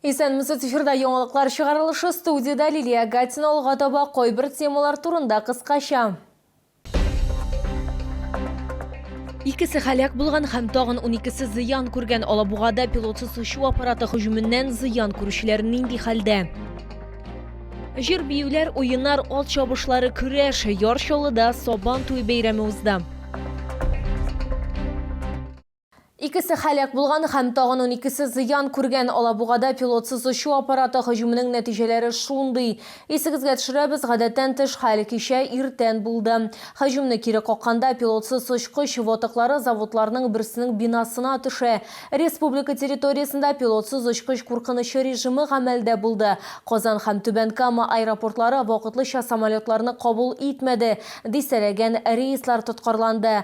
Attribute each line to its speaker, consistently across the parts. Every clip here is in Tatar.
Speaker 1: Исәнмесез, эфирда яңалыклар чыгарылышы студиядә Лилия Гатина алга таба кайбер темалар турында кыскача. Икесе халәк булган һәм тагын 12-се зыян күргән Алабугада пилотсыз очу аппараты һөҗүменнән зыян күрүчеләр нинди хәлдә? Җыр биюләр, уеннар, ат чабышлары, көрәш, Яр Чаллыда Сабан туе бәйрәме узды. Икесе һәлак булган һәм тагын уникесе зыян күргән. Алабугада пилотсыз очу аппараты һөҗүменең нәтиҗәләре шундый. Исегезгә төшерәбез, гадәттән тыш хәл кичә иртән булды. Һөҗүмне кире какканда, пилотсыз очкыч ватыклары заводларның берсенең бинасына төшә. Республика территориясендә пилотсыз очкыч куркынычы режимы гамәлдә булды. Казан һәм Түбән Кама аэропортлары вакытлыча самолетларны кабул итмәде, дистәләгән рейслар тоткарланды.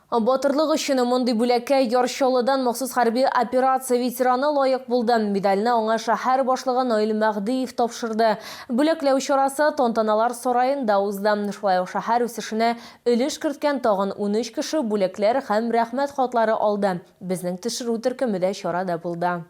Speaker 1: Батырлык өчен мондый бүләккә Яр Чаллыдан махсус хәрби операция ветераны лаек булды. Медальне аңа шәһәр башлыгы Наил Мәһдиев тапшырды. Бүләкләү чарасы Тантаналар сараенда узды. Шулай ук шәһәр үсешенә өлеш керткән тагын унөч кеше бүләкләр һәм Рәхмәт хатлары алды. Безнең төшерү төркеме дә чарада булды.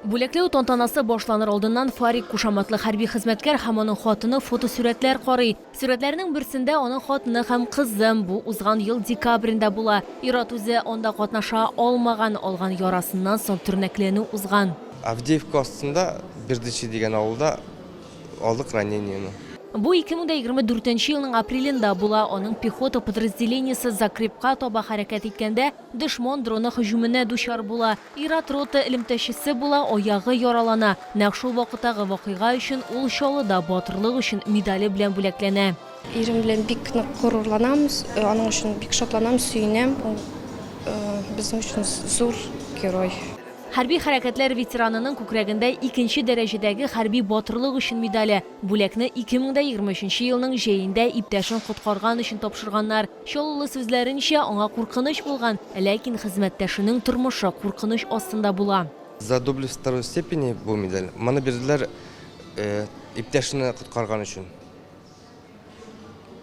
Speaker 1: Бүләкләү тантанасы башланыр алдыннан Фарик кушаматлы хәрби хезмәткәр һәм аның хатыны фотосурәтләр карый. Сурәтләрнең берсендә аның хатыны һәм кызы. Бу узган ел декабрендә була. Ир-ат үзе анда катнаша алмаган, алган ярасыннан соң тернәкләнү узган. Авдеевка астында
Speaker 2: Бердичи дигән авылда алдык ранениене. Бу 2024
Speaker 1: нче елның апрелендә була. Аның пехота подразделениесе Закрепка таба хәрәкәт иткәндә, дошман дроны һөҗүменә дучар була. Ир-ат рота элемтәчесе була, аягы яралана. Нәкъ шул вакыттагы вакыйга өчен ул Чаллыда Батырлык өчен медале белән бүләкләнә. Ирем белән бик
Speaker 3: нык горурланам, аның өчен бик шатланам, сөенәм. Ул безнең өчен зур герой. Хәрби
Speaker 1: хәрәкәтләр ветеранының күкрәгендә икенче дәрәҗәдәге Хәрби Батырлык өчен медале. Бүләкне 2023 елның җәендә иптәшен коткарган өчен тапшырганнар. Чаллылы сүзләренчә, аңа куркыныч булган, ләкин хезмәттәшенең тормышы куркыныч астында була. За доблесть второй
Speaker 2: степени бу медаль, моны бирделәр иптәшне коткарган өчен,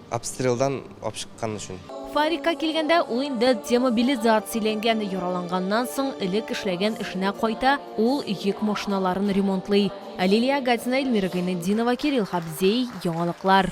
Speaker 2: обстрелдан алып чыккан өчен. Фарикка килгәндә,
Speaker 1: ул инде демобилизацияләнгән, яраланганнан соң элек эшләгән эшенә кайта, ул йөк машиналарын ремонтлый. Лилия Агатина, Эльмира Гайнетдинова, Кирилл Хабзей, яңалыклар.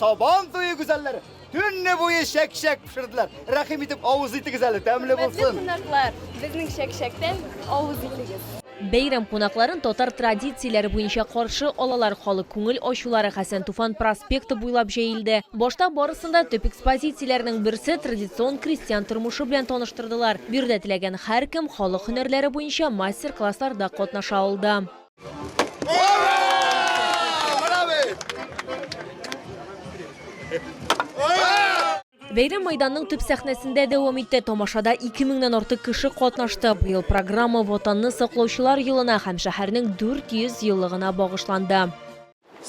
Speaker 1: Сабан
Speaker 4: туе гүзәлләре төнне буе чәк-чәк пешерделәр. Рәхим итеп авыз итегез әле, тәмле булсын. Кунаклар, безнең
Speaker 5: чәк-чәктән авыз итегез. Бәйрәм кунакларын
Speaker 1: татар традицияләре буенча каршы алалар. Халык күңел ачулары Хәсән Туфан проспекты буйлап җәелде. Башта барысын да төп экспозицияләрнең берсе традицион крестьян тормышы белән таныштырдылар. Бирдә теләгән һәркем халык һөнәрләре буенча мастер-классларда катнаша алды. Бәйрәм майданның төп сәхнәсендә дәвам итте. Тамашада 2000-нән артык кеше катнашты. Быел программа Ватанны саклаучылар елына һәм шәһәрнең 400 еллыгына
Speaker 6: багышланды.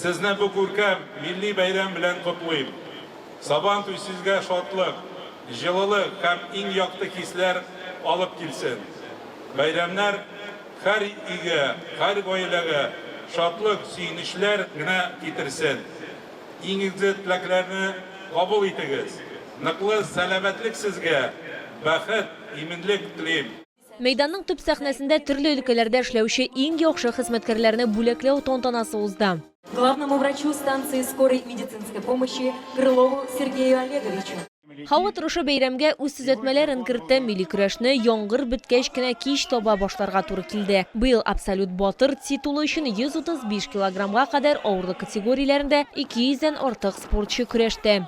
Speaker 6: Сезне
Speaker 1: бу
Speaker 6: күркәм милли бәйрәм белән котлыйм! Сабантуй сезгә шатлык, җылылык һәм иң якты хисләр алып килсен! Бәйрәмнәр һәр өйгә, һәр гаиләгә шатлык, сөенечләр генә китерсен! Иң изге теләкләрне кабул итегез! Ныклы сәламәтлек сезгә, бәхет, иминлек телим! Мәйданның төп
Speaker 1: сәхнәсендә төрле өлкәләрдә эшләүче иң яхшы хезмәткәрләрне бүләкләү тантанасы узды. Главному врачу
Speaker 7: станции скорой медицинской помощи Крылову Сергею Олеговичу. Һава торышы
Speaker 1: бәйрәмгә үз төзәтмәләрен кертте, милли көрәшне яңгыр беткәч кенә кич таба башларга туры килде. Быел Абсолют батыр титулы өчен 135 килограммга кадәр авырлык категорияләрендә 200 дән артык спортчы көрәште.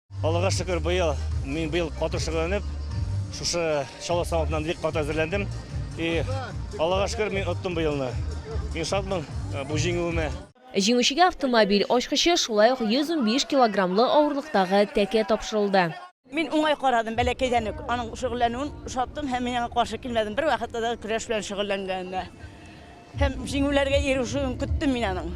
Speaker 1: Аллага шөкер,
Speaker 8: быел мин быел каты шөгыльләнеп, шушы чаллы савытыннан бик каты әзерләндем. И Аллага шөкер, мин оттым быелны. Мин шатмын э, бу җиңүемә. Җиңүчегә
Speaker 1: автомобиль ачкычы, шулай ук 115 килограммлы авырлыктагы тәкә тапшырылды. Мин уңай
Speaker 9: карадым бәләкәйдән үк. Аның шөгыльләнүен шаттым һәм мин аңа каршы килмәдем. Бер вакытта да көрәш белән шөгыльләнгәненә. Һәм җиңүләргә ирешүен көттем мин аның.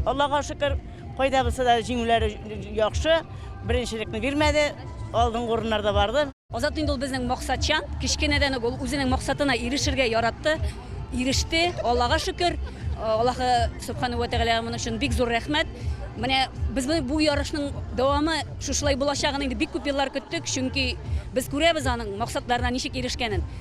Speaker 9: Аллага шөкер, кайда булса да җиңүләре яхшы, беренчелекне бирмәде, алдынгы урыннарда барды. Азат инде ул безнең
Speaker 7: максатчан, кечкенәдән үк ул үзенең максатына ирешергә яратты, иреште, Аллага шөкер. Аллаһы Сөбхәнәһү вә Тәгаләгә моның өчен бик зур рәхмәт. Менә без моны бу ярышның дәвамы шушылай булачагын инде бик күп еллар көттек, чөнки без күрәбез аның максатларына ничек ирешкәнен.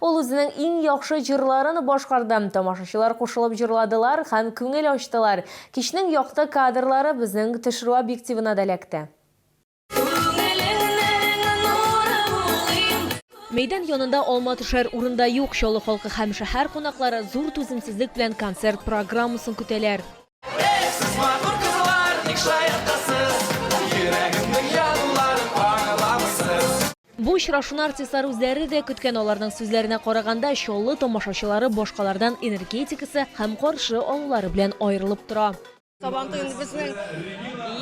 Speaker 1: Ул үзенең иң яхшы җырларын башкарды, тамашачылар кушылып җырладылар һәм күңел ачтылар. Кичнең якты кадрлары безнең төшерү объективына да эләкте. Мәйдан янында алма төшәр урын да юк, Чаллы халкы һәм шәһәр кунаклары зур түземсезлек белән концерт программасын көтәләр. Бу очрашуны артистлар үзләре дә көткән аларның сүзләренә караганда, Чаллы тамашачылары башкалардан энергетикасы һәм каршы алулары белән аерылып тора. Сабантуен
Speaker 10: безнең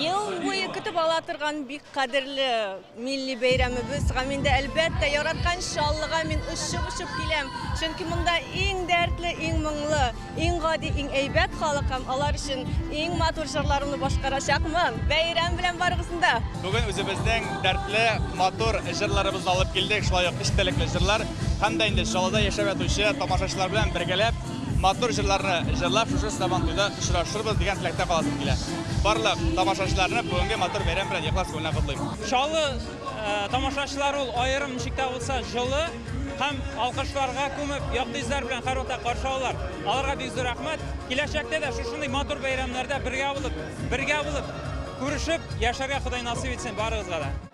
Speaker 10: ел буе көтеп ала торган бик кадерле Милли бәйрәмебез гамендә, әлбәттә, яраткан Чаллыга мин очып-очып киләм, чөнки монда иң дәртле, иң моңлы, иң гади, иң әйбәт халык һәм алар өчен иң матур җырларымны башкарачакмын. Бәйрәм белән барыгызны да! Бүген үзебезнең
Speaker 11: дәртле, матур җырларыбызны алып килдек, шулай ук эчтәлекле җырлар һәм дә инде Чаллыда яшәп ятучы тамашачылар белән бергәләп, Матур җырларны җырлап шушы Сабантуйда очрашырбыз дигән теләктә каласым килә. Барлык тамашачыларны бүгенге матур бәйрәм белән ихлас күңелнән котлыйм. Чаллы
Speaker 12: тамашачылары ул аерым ничек тә булса җылы һәм алкышларга күмеп, якты йөзләр белән һәрвакытта каршы алалар. Аларга бик зур рәхмәт. Киләчәктә дә шушындый матур бәйрәмнәрдә бергә булып, бергә булып күрешеп яшәргә Ходай насыйп итсен барыгызга да.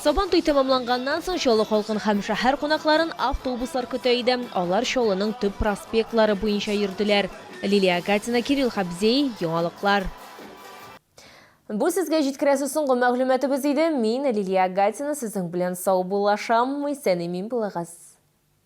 Speaker 1: Сабан туй тәмамланганнан соң Чаллы халкын һәм шәһәр кунакларын автобуслар көтә иде. Алар Чаллының төп проспектлары буенча йөрделәр. Лилия Агатина, Кирилл Хабзей, Яңалыклар. Бу сезгә җиткерәсе соңгы мәгълүматыбыз иде. Мин, Лилия Агатина, сезнең белән саубуллашам, исән-имин булыгыз.